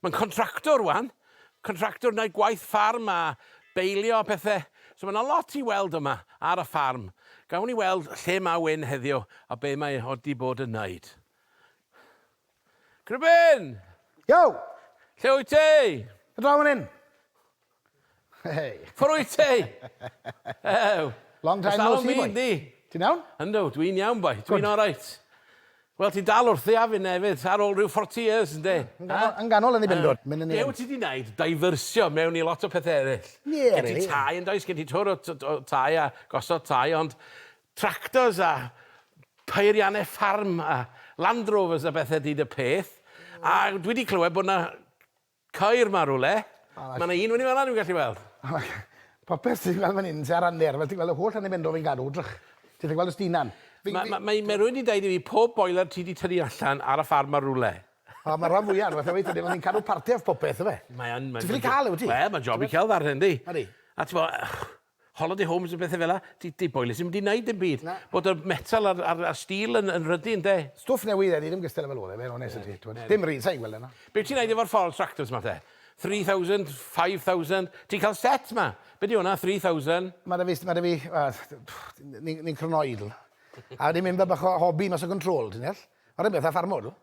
Mae'n contractor rwan, contractor yn neud gwaith ffarm a beilio a pethe, so ma' 'na lot i weld yma ar y ffarm. Gawn ni weld lle ma' Wyn heddiw a be' mae o 'di bod yn neud. Cribin! Yo! Lle wyt ti? Draw fan 'yn. Hey. Ffordd wyt ti? Ew. Long time no see, boi. Ti'n iawn? Yndw, dwi'n iawn, boi. Dwi'n all right. Wel, ti'n dal wrth i afyn efyd, ar ôl rhyw 40 years, ynddi? Yn ganol yn ei bendod. Be wyt ti di wneud? Diversio mewn i lot o pethau eraill. Ie, rili. Gen ti tai yn does, gen ti twr o tai a gosod tai, ond tractors a peiriannau ffarm a Land Rovers a bethau di dy peth. A dwi wedi clywed bod yna Ceir ma rwle. Ma na un fynny fana dwi'n gallu weld. Popeth ti'n gweld fan hyn sy ar ranner fel ti'n gweld y holl ranne Benfro fi'n gadw drych. Ti ffaelu gweld y stinan. Ma ma ma rywun di deud i fi pob boiler ti di tynnu allan ar y ffarm ma rwle. O ma ran fwya on'w beth yw e ni'n cadw parti off popeth yfe. Mae yn. Ti ffili ca'l e wyt ti? Wel ma'n job i celf arni yndi? Odi. A t'mo holiday homes a bethe fel 'a, ti ti boilers ddim 'di neud dim byd. Na. Bod y metal a'r a'r a'r steel yn yn ryddy ynde? Stwff newydd ydi ddim gystal efo lôn efyd onest â ti t'mod. Dim rili sai'n gweld wnna. Be' ti'n neud efo'r false fractals 'ma te? Three thousand, five thousand, ti'n ca'l set 'ma. Be' 'di wnna? Three thousand. Ma' 'da fi st- ma' 'da fi yy ni ni'n cronoidl. A wedi mynd fel bach o hobi mas o control ti'n deall? Yr un peth â ffarmwr dw.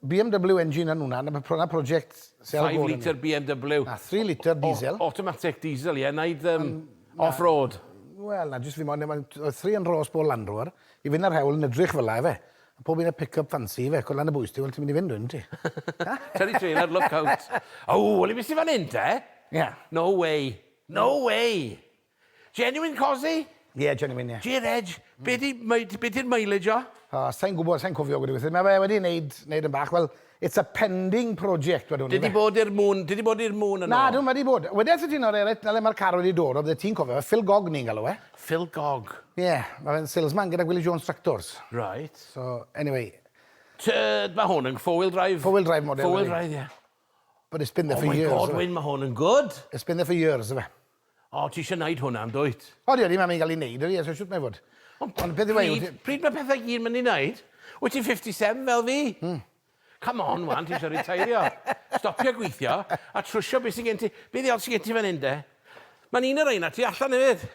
BMW engine yn hwnna, 'na be' pro- 'na project sy ar y go arno fi. Five litre BMW. Na, three litre diesel. O- automatic diesel ie, wneud yym off-road. Wel na, jyst fi moyn yym oedd three yn rôs bol Land Rover, i fynd ar hewl yn edrych fel 'a ife, a pob un â pick-up fancy ife, cwlan y bwys ti, wel ti'n mynd i fynd wedyn yndi? Teddy Taylor look out. Ow, wel i be' sy fan 'yn te? Ie. No way! No way! Genuine Cosy? Ie, genuine, ie. Gear Edge. Be' 'di myd- be' 'di'r mileage o? O, sai'n gwbod, sai'n cofio gweud y gwir. Ma' fe wedi neud neud yn bach, wel, it's a pending project wedwn i ife? Ti 'di bod i'r Moon, ti 'di bod i'r Moon yn ôl? Nadw, ma' 'di bod. Wedes i ti nawr Eret, 'na le ma'r car wedi dod o, byddet ti'n cofio fe, Phil Gog ni'n galw e. Phil Gog? Ie, ma' fe'n salesman gyda Gwilly Jones Tractors. Reit. So, anyway. T- ma' hwn yn four wheel drive? Four wheel drive model yw e. Four wheel drive, ie. But it's been there for years. Oh my God, Wyn, ma' hwn yn good! It's been there for years, ife? O, ti eisiau wneud hwnna, yn dwyt? O, dio ddim am ei gael ei wneud, ydy e, so shwt mae fod? Ond, Ond beth yw e, pryd, wyt ti- pryd mae pethau gyd mynd i wneud? Wyt ti'n 57 fel fi? Hmm. Come on, wan, ti eisiau riteirio. Stopio gweithio, a trwsio beth sy'n gen ti. Be ddiol sy'n gen ti fan hyn, de? Mae'n un o reina tu allan hefyd.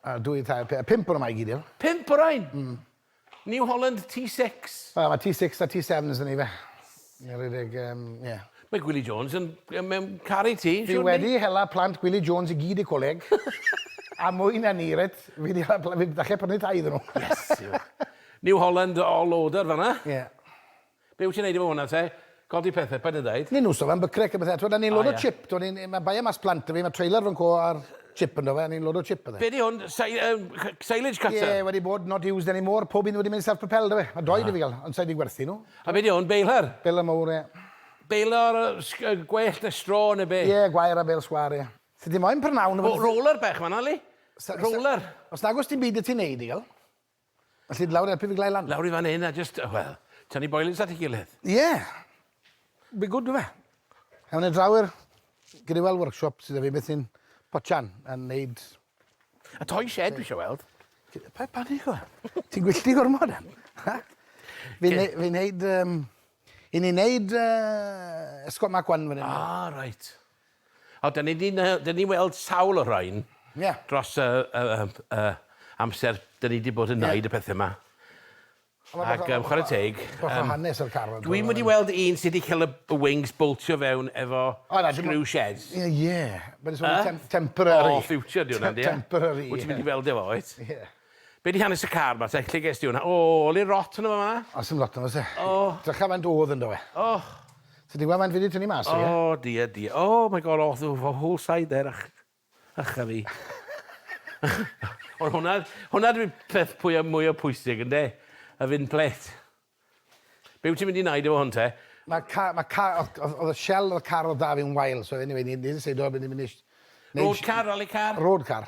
A dwy, tair, pe- pump o'r yma i gyd, ie? Pump o rein? New Holland T6. Wel ma T6 a T7s yn i fe. Ie redeg yym ie. Mae Gwili Jones yn yn mewn caru ti siwr Fi wedi hela plant Gwili Jones i gyd i coleg. a mwy na ni reit fi di hela pla- fi falle prynu tai iddyn nhw. Yes you. New Holland all order fanna. Ie. Be wyt ti'n neud efo hwnna te? Codi pethe, paid a deud. Ni nhw'n sôn am bycrec a bethe, t'mod a ni'n load o chip, t'mod ni'n ma' bae e mas plant 'da fi, ma' trailer fan'co a'r chip ynddo fe a ni'n load o chip a 'the. Be 'di hwn, si- yym c- silage cutter? Ie, wedi bod, not used any more, pob un wedi mynd self propelled do fe? Ma' dou 'da fi ga'l, ond sai 'di gwerthu nhw. A be 'di hwn, baler? Baler mowr ie. Baler sg- yy gwellt ne' straw ne' be'? Ie, gwair a bêl sgwâr ie. Sa ti moyn prynawn o fe? O, roller bech fan'na yli? Sa- sa- Roller. Os nag o's dim byd 'da ti neud digal. Felly lawr i helpu fi glau lan. Lawr i fan 'yn a jyst wel, tynnu boilins at 'i gilydd. Ie! Be' good do fe? Ewn ni draw i'r Grewel workshop sy 'da fi beth sy'n potsian a neud... Y toy shed dwi isio weld. Pa- panic ŵan? Ti'n gwyllti gormod am? Ha? Fi'n ne- fi'n neud yym 'yn ni'n neud yy esgob Mark One fan 'yn. Ah reit. O, 'dan ni 'di ne- 'dan ni weld sawl o rain... Ie. ...dros y y yym y amser 'dan ni 'di bod yn neud y pethe 'ma. Ac yym chware teg yym... Bach o hanes ar car. Dwi'm wedi weld un sy 'di ca'l y y wings boltio fewn efo screw sheds. Ie ie. Ma'n swnio tem- temporary. O future 'di wnna on'd yw e? Temporary. Wyt ti mynd i weld e 'fo wyt? Ie. Be di hanes y car ma te? Lle ges di hwnna? O! Ole rot yno fo fanna. Oes dim lot yno oes e? O! Drycha faint odd yndo fe. O! Ti di gwel faint fi di tynnu mas o fe? O dear dear. O my God o the whole side there ych ych a fi. Ond hwnna hwnna dwi peth pwya mwya pwysig ynde? Y fin plêt. Be wyt ti'n mynd i wneud efo hwn te? Ma ca- ma ca- odd odd odd y shell o'r car odd 'da fi yn wael so eniwe ni ni ddiseidio bo' ni myn' i sh- neud sh- Road car, rally car? Road car.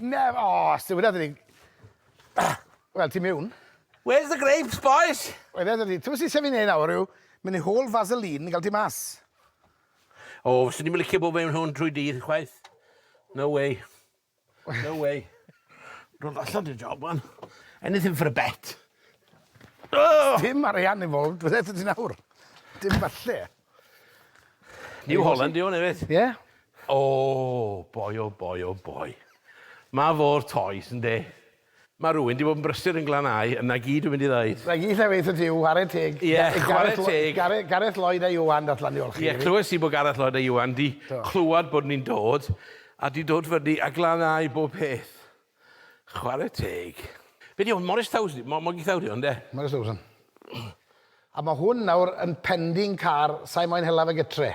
Nef- O! Stiwn wynna ddi. Wel ti miwn. Where's the grapes bois? Wel ie 'da ti. T'mo' sy isie fi neud nawr yw myn' i hol faseline i ga'l ti mas. O fyswn i'm yn licio bo' mewn hwn trwy dydd chwaith. No way. No way. Rwy'n gollod dy job wan. Anything for a bet. Oh! Dim arian involved, bydde ti nawr. Dim falle. New Holland yw hwn hefyd. Ie. Yeah. Oh, boi o oh, boi o oh, boi. Mae fo'r toes, ynddi. Mae rhywun 'di bod yn brysur yn Glannau, yna gyd dwi'n mynd i ddeud. Na gyd 'llai weithiau ti yw whare teg i Gareth Gareth Lloyd a Iwan dath lan i olchi fi. Ie clywes i bod Gareth Lloyd a Iwan 'di clywed bod ni'n dod a 'di dod fyny a Glannau bob peth. Chware teg. Be 'di hwn? Morris Thousand? Mo- Moggy Thousand yw hwn de? Morris Thousand. A ma' hwn nawr yn pending car, sai moyn hela fe gytre.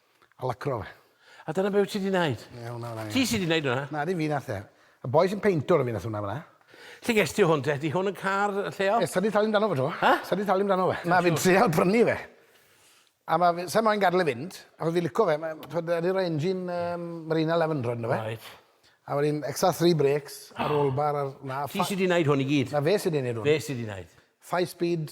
A lacro fe. A dyna be' wyt ti 'di neud? Ie, hwnna fynna ie. Ti sy 'di neud wnna? Na, dim fi nath e. Y boi sy'n peintwr o fi nath wnna fynna. Lle ges ti hwn te? Ydi hwn yn car y lleol? Yy sa di talu amdano fo 'to. Hy? Sa di talu amdano fe. Na fi'n trial prynu fe. A ma' fe sai moyn gadl e fynd achos fi lico fe ma' t'wod yy roi engine yym Marina eleven ynddo fe. Reit. A wedyn ecstra three brakes a roll bar a'r na ffa-... Ti sy 'di neud hwn i gyd? Na fe sy 'di neud hwn. Fe sy 'di neud. Five speed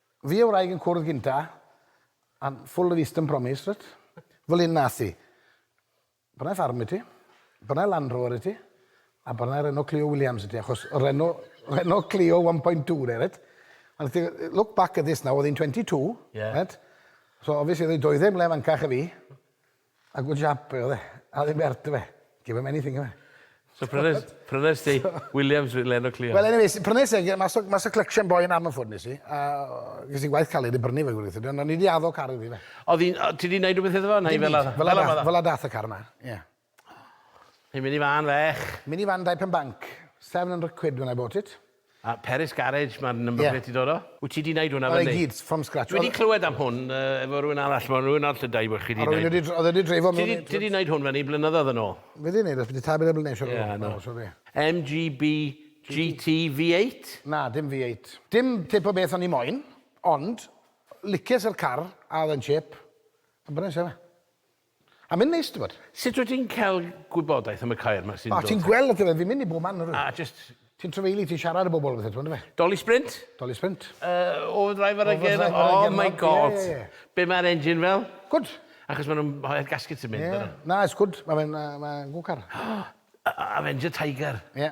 Fi a'i wraig yn cwrdd gynta, a full of Eastern promise, reit? Fel hyn nath hi. Bryna i ffarm i ti, bryna i Land Rover i ti, a bryna i Renault Clio Williams i ti, achos Renault, Renault Clio 1.2 de, reit? A nath hi, look back at this now, oedd hi'n 22, reit? So obviously oedd hi doedden mlaen fancach a fi. A good job oedd e. A oedd e'n bert do fe? Give him anything oedd e. So prynes, prynes ti Williams with Leno Cleo? Wel anyway, prynes e mas o, mas o collection boy yn Ammanford nes i, a ges i gwaith caled i brynu fe gwir ond o'n i di addo car iddi fe. Oedd hi'n, ti di neud rhywbeth iddo fo? Neu fel a, fel a, fel a dath y car yma, ie. Hei, mini fan fech. Mini fan dau pen banc. 700 quid when I bought it. A Peris Garage ma'r number plate 'di dod o? Wyt ti 'di neud hwnna fyny? O i gyd, from scratch. Dwi 'di clywed am hwn yy efo rywun arall, ma' rywun arall yn deu' bo' chi 'di neud... A rywun wedi... O'dd e 'di dreifo mewn i... Ti 'di ti 'di neud hwn fyny blynyddodd yn ôl? Fi 'di neud e byti tair blynadd siŵr o fod. Ie, na. MGB GT V8? Na, dim V8. Dim tip o beth o'n i moyn, ond licies yr car a o'dd e'n chip, a brynes e. A mae'n neis t'bod. Sut wyt ti'n cael gwybodaeth am y caeau 'ma sy'n dod... O ti'n gweld on'd yfe fi'n mynd i bob man nawr. A jyst... Ti'n trafeilu ti'n siarad i bobl a bethe t'mod on'd yfe? Dolly Sprint? Dolly Sprint. Yy Over Driver ag e nawr? Oh my God! Ie ie ie. Be' ma'r engine fel? Good. Achos ma' nw'n rhoi'r gaskets yn mynd ynddo? Ie. Na it's good ma' fe'n yy ma'n good car. Avenger Tiger. Ie.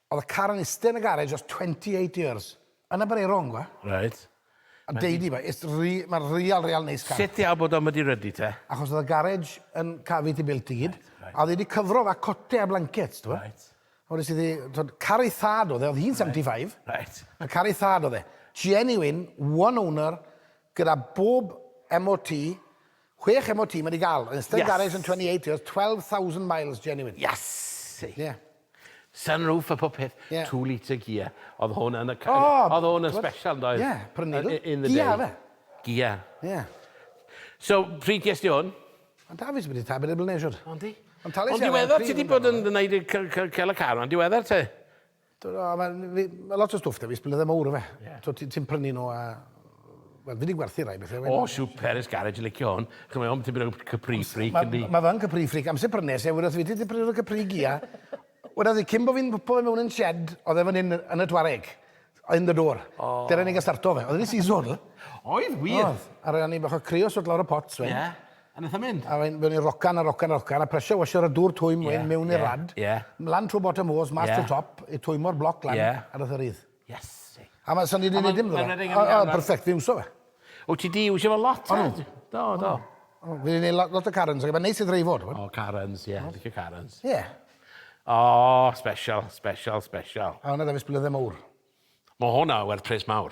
Oedd y car yn iste yn y garej ers 28 years. Yna bod e wrong wa. Reit. A deud i fe, it's re- ma real real neis car. Sut ti a bod o'm wedi rydu te? Achos oedd y garej yn cafu ti built i gyd. Reit. A oedd e wedi cyfro fa cote a blancets t'bo. Reit. A wedest ti ddi t'od car ei thad oedd e oedd hi'n 75. Reit. A car ei thad oedd e. Genuine, one owner gyda bob MOT Chwech emo ti ma di gal. Yn ystod garage yn 28 years, 12,000 miles genuine. Iasu! Ie. Sunroof a popeth. Ie. Two litre gear. Oedd hwn yn y ca- O! Oedd hwn yn special yn doedd? Ie, prynu nhw. In the day. Gia oedd e? Gia. Ie. So, pryd ges di hwn? O da fi sy wedi ta- bedair blynedd siwr. O yndi? Ond tales i ar e am tri blynedd. Ond diweddar ti di bod yn neud y c- c- cel y car ma'n diweddar te? Dyna, mae, fi, mae lot o stwff da fi, sblyddau mawr o fe. Yeah. So ti'n ti prynu nhw a... Wel, fi wedi gwerthu rai bethau. O, oh, super, ys garage, yn licio hwn. Chymau, ond ti'n bryd Capri Freak yn di. Mae fe'n Capri Freak, amser prynes e, wrth fi ti prynu o'r Capri Gia. Wrth i, cyn bod fi'n pwpo fe mewn yn shed, oedd e fan hyn yn y twareg. Yn y dôr. Oh. Dyna ni'n gael starto fe. Oedd e'n seasonal. Oedd, wir. Oedd. Ar ran ni bach o creos wrth lawr y pots, fe. Yeah. A nath e mynd? A wedyn ni rocan a rocan a rocan a pressure washer a dŵr twym wedyn mewn i'r rad. Ie. Mlan trw bottom hose mas trw top i twymor bloc lan a nath e rydd. Iesu. A ma' so ni 'di neud dim 'da fe. O o perfect fi'n iwso fe. Wt ti 'di iwsio fo lot 'fyd? Do do. O fi 'di neud lo- lot o Karens a ma' neis i ddreifo t'mod? O Karens ie licio Karens. Ie. O special special special. A wnna 'da fi 's blydde mowr. Ma' honna werth pres mawr.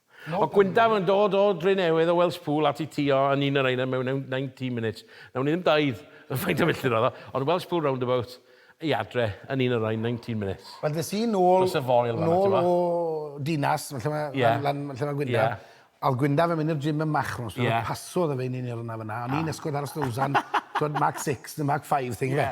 O Gwyndaf yn dod o Drenewydd o Welspool at i ti o yn un yr aenau mewn 19 minutes. Nawn ni ddim daid yn faint o filltir oedd o, ond Welspool roundabout i adre yn un yr aen 19 minutes. Wel des i nôl, nôl o Dinas, lle mae lan, lle mae Gwyndaf, a oedd Gwyndaf yn mynd i'r gym yn Machnos, so passodd e fe i ni yn yr yna fyna, o'n i'n ysgwyd ar y Stows am, t'wod, mark six neu mark five thing ife.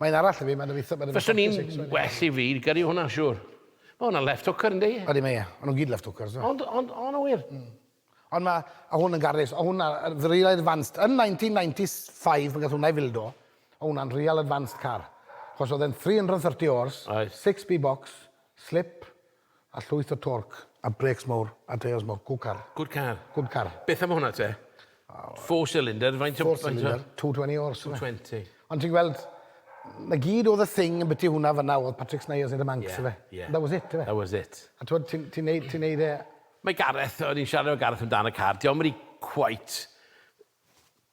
Mae'n arall i fi, mae'n eitha... Fyswn i'n well i fi gyrru hwnna, siwr. Mae hwnna'n left hooker, ynddi? Ydi, mae e. O'n nhw'n gyd left hookers, do. Ond, ond, o, na wir? Mm. Ond mae, a hwn yn garus, o hwnna, real advanced, yn 1995 pan gath hwnna i fildo, o hwnna'n real advanced car. Chos oedd e'n 330 horse, 6 b box, slip, A llwyth o torc, a brêcs mawr, a teiars mawr. Good car. Good car. Good car. Beth am hwnna te? Four cylinder, faint o... Four cylinder, 220 horse. 220. Ond ti'n gweld, na gyd oedd y thing yn biti hwnna fanna oedd Patrick Snijers yn y Manx, yeah, fe? Yeah. That was it, fe? That was it. A ti'n ti, ti neud, ti neud e... Mae Gareth, o'n i'n siarad o Gareth amdano car, diolch yn rhi quite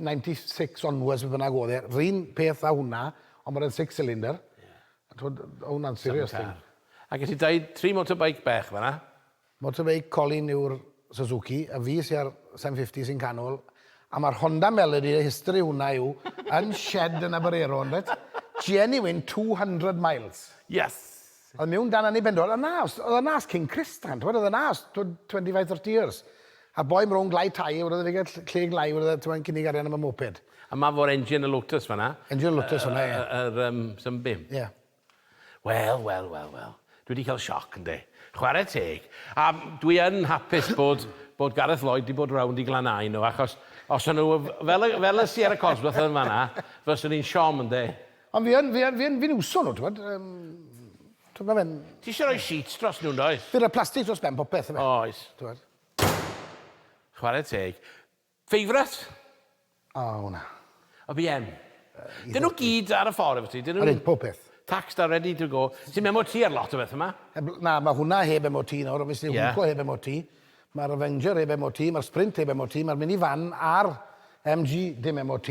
96 onwards beth bynnag oedd e, run peth a hwnna, ond mae'n rhaid six cylinder. Yeah. A twyd, o hwnna'n serious thing. Ac ys i dweud tri motorbike bech fanna? Motorbike Colin yw'r Suzuki, a fi sy'n ar 750 sy'n canol, a mae'r Honda Melody, y history hwnna yw, yn shed yn Aberero, yn rhaid, genuine 200 miles. Yes! Oedd mewn dan anniben, oedd yna, oedd yna as King Chris dan, oedd yna as 25-30 years. A boi mrown glai tai, oedd yna gael lle glai, oedd yna cynnig arian am y moped. A ma fo'r engine y Lotus fanna. Engine y Lotus fanna, ie. Yr um, Sunbeam. Ie. Yeah. Wel, wel, wel, wel. Dwi wedi cael sioc, ynddi. Chwarae teg. A dwi yn hapus bod, bod Gareth Lloyd wedi bod rownd i glanau nhw, achos os o'n nhw fel, fel y Sierra Cosworth yn fanna, fyswn i'n siom, ynddi. Ond fi yn, fi yn, fi yn, fi'n iwso nhw, t'mod, yym, t'mod, ma' fe'n... Ti isie roi sheets dros nhw, yndoes? Fi'n rhoi plastig dros ben popeth, yfe? Oes. T'mod. Chware teg. Favourite? O, hwnna. O, fi yn. Dyn nhw gyd ar y ffordd efo ti, dyn nhw... Odyn, pob peth. Taxed a ready to go. Ti'n MOT ar lot o bethau 'ma. Heb- na, ma' hwnna heb MOT nawr, obviously... Ie. ...Hwco heb MOT, ma'r Avenger heb MOT, ma'r Sprint heb MOT, ma'r mini van a'r MG dim MOT.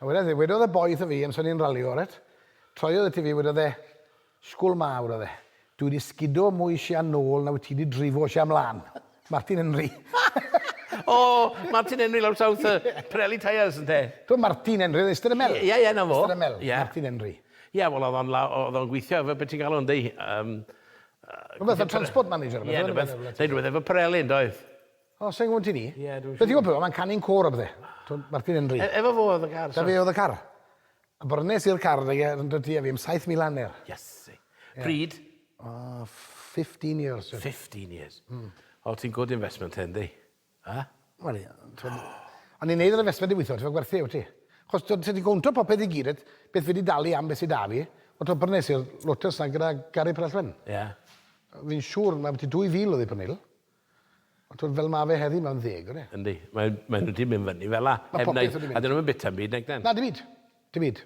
A wedodd e, wedodd y boi wrtho fi amser ni'n ralio, reit, troiodd ati fi, wedodd e, Sgwl mawr, oedd e, dwi wedi sgudo mwy sian nôl na wyt ti wedi drifo sian mlân. Martin Henry. O, Martin Henry lawr south, yy, Pirelli tyres, ynte? T'mo' Martin Henry oedd eistedd yn y mel? Ie, ie, 'na fo. Eistedd yn y mel. Ie. Martin Henry. Ie, wel, oedd o'n la- o- oedd o'n gweithio efo, be' ti'n galw o'n, deu- yym, yy... Rwbeth fel transport manager, rwbeth, yndyfe? Ie, rwbeth, neu rwbeth efo Pirelli, yndoedd? O, sai'n gwybod ti ni. Ie, dwi'n siŵr. Beth yw o mae'n canu'n côr a bydde. Martin Henry. E efo fo oedd y car. Da fe oedd y car. A brynes i'r car da e yn dod i fi am 7,000 anner. Iesu. Pryd? O, 15 years. 15 years. Mm. O, ti'n good investment hyn, di? Ha? Wel, ie. O'n i'n neud yr investment i weithio, ti'n gwerthu, wyt ti? Chos ti'n ti gwnto popeth i gyd, beth fi wedi dalu am beth sydd da fi, o ti'n brynes i'r Lotus na gyda Gary Prellwen. Ie. Yeah. Fi'n siŵr, mae beth i 2,000 oedd i prynu. Ond t'wod fel ma' fe heddi mae'n ddeg yw e? Yndi. Mae mae wedi mynd fyny fela. Ma' popeth wedi mynd. A 'dyn nw'm yn bita 'm byd nag 'dan? Na dim byd. Dim byd.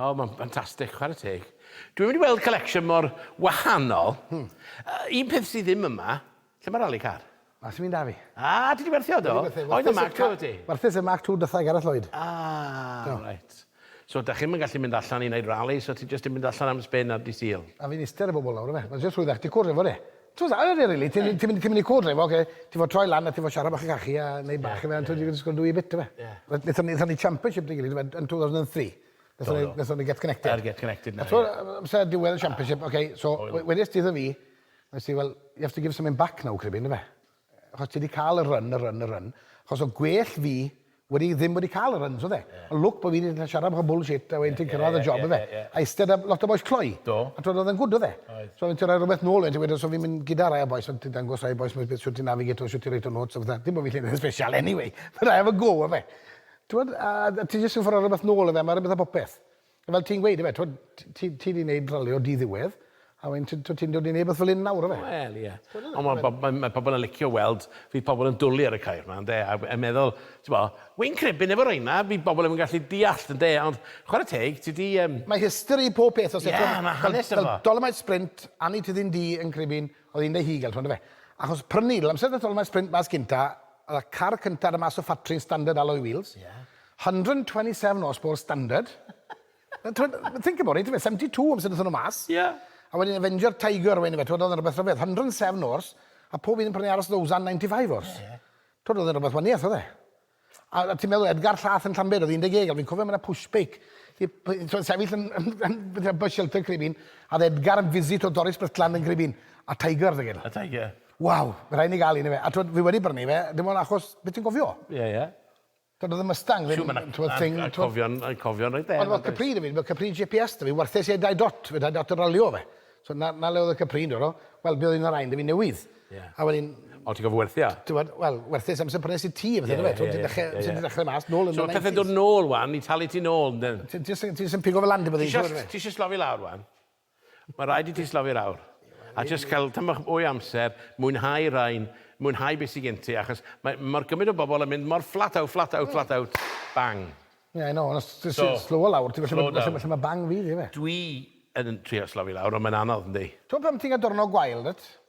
O ma'n ffantastic chware teg. Dwi wedi weld collection mor wahanol. Hmm. Yy un peth sy ddim yma, lle ma' rali car? Na sdim un 'da fi. Ah ti 'di werthu o do? Oedd y Mark Two 'da ti? Werthes y Mark Two dytha i Gareth Lloyd. Ah reit. So dach chi'm yn gallu mynd allan i wneud rali, so ti jyst yn mynd allan am spin ar Dydd Sul? A fi'n iste ar y bobl nawr yfe, ma' jyst rhwyddach, ti'n cwrdd efo fe. T'mod a ydi e rili, ti'n ti'n mynd ti'n mynd i cwrdd efo fe, ti fod troi lan a ti fod siarad bach i cachu a neud bach yfe a t'mod you can just go do your bit yfe. Wel nethon ni nethon ni championship 'da'n gilydd yfe yn two thousand and three. Nethon ni nethon ni Get Connected. Ar Get Connected 'na ie. A t'mo' amser diwedd y championship oce so we- wedes ti iddo fi, wnes ti fel you have to give something back now Craybyn yfe? achos ti wedi cael y run, y run, y run, achos o gwell fi wedi ddim wedi cael y runs, oedd e? Yeah. Ond lwc bod fi wedi siarad bach o bullshit a wedyn ti'n cyrraedd y job, oedd e? A eistedd am lot o boes cloi. Do. A twyd, oedd e'n gwrdd, oedd e? Oedd. So, ti'n rhoi rhywbeth nôl, ti'n gweud, so fi'n mynd gyda rai o boes, ond ti'n dangos rai o boes, beth sy'n ti'n navigator, sy'n ti'n reit o notes, oedd dim bod fi'n lle special anyway, but I have a go, oedd e? Ti'n gwybod, a ti jyst yn ffyr rhywbeth nôl, oedd e? Mae rhywbeth a popeth. Fel ti'n gweud, ife, t'wod, t- ti ti 'di neud rali o di-ddiwedd, a wedyn t- t'wod ti'n dod i neud rwbeth fel 'yn nawr, yfe? Wel, ie. Ond ma' bob- ma' ma' pobol yn licio weld, fydd pobol yn dwli ar y ceir 'ma, ynde, a a meddwl, t'bo', wi'n credu yn y boreina' fydd bobol ddim yn gallu deallt, ynde, ond chware teg, ti 'di yym... Mae history pob peth os e-... Ie, ma' hanes 'da fo. Fel Dolomite Sprint, Anni Tyddyn Du yn Cribyn, o'dd 'i'n dy hugel, t'mo' yndyfe? Achos prynu, l- amser nath Dolomite Sprint mas gynta, o'dd y car cynta ar y mas o ffatri yn standard alloy wheels. Ie. 127 horsepower standard. Think about it, 72 amser wnaethon nhw mas. Yeah. A wedyn Avenger Tiger wedyn fe, twod, oedd yn rhywbeth rhyfedd. 107 horse, a pob un yn prynu aros ddowsan 95 horse. Ie, ie. Twod, oedd yn rhywbeth waniaeth, oedd e? A, a ti'n meddwl, Edgar Llath yn Llanbed, oedd 10 egl, fi'n cofio mae'n pushbake. Twod, sefyll yn, yn, yn, yn, bus shelter Cribyn, a oedd Edgar yn visit o Doris Brytlan yn Cribyn, a Tiger, dy gyd. A Tiger. Waw, rhaid ni gael un i fe. A twod, fi wedi brynu fe, dim ond achos, beth ti'n gofio? Ie, yeah, ie. Yeah. Doedd y Mustang ddim yn t'mod thing t'mod? Dwi'n cofio'n dwi'n cofio'n reit dda. Ond o'dd Capri 'da fi, ma' Capri GPS 'da fi, warthus i e dau dot, fe dau dot yn ralio fe. So 'na 'na le o'dd y Capri yn dod o. Wel buodd un o rain 'da fi newydd. Ie. A wedyn... O ti'n gorfo werthu e? T'mod, wel, werthus amser prynes i ti a bethe yndyfe? T'mod ti'n dechre ti 'di dechre mas nôl yn y nineties. So ma' pethe'n dod nôl ŵan i talu ti nôl yndyn? Ti jys yn ti jys yn pigo fe lan dim ond un tro yndyfe? Ti isie ti isie slofi lawr ŵan? Mae rhaid i ti slofi'r aur a jyst cael tamaid bach mwy o amser, mwynhau rain, mwynhau beth sydd gen ti, achos mae mor gymaint o bobl yn mynd mor flat out, flat out, flat out, bang. Yeah, I know, ond os ti jyst slowo lawr, ti'n gwybod lle mae lle mae bang fi, yndyfe? Dwi yn trio slofi lawr, ond mae'n anodd, yndi? Ti'n gwybod pan ti'n cael diwrnod gwael, dwyt?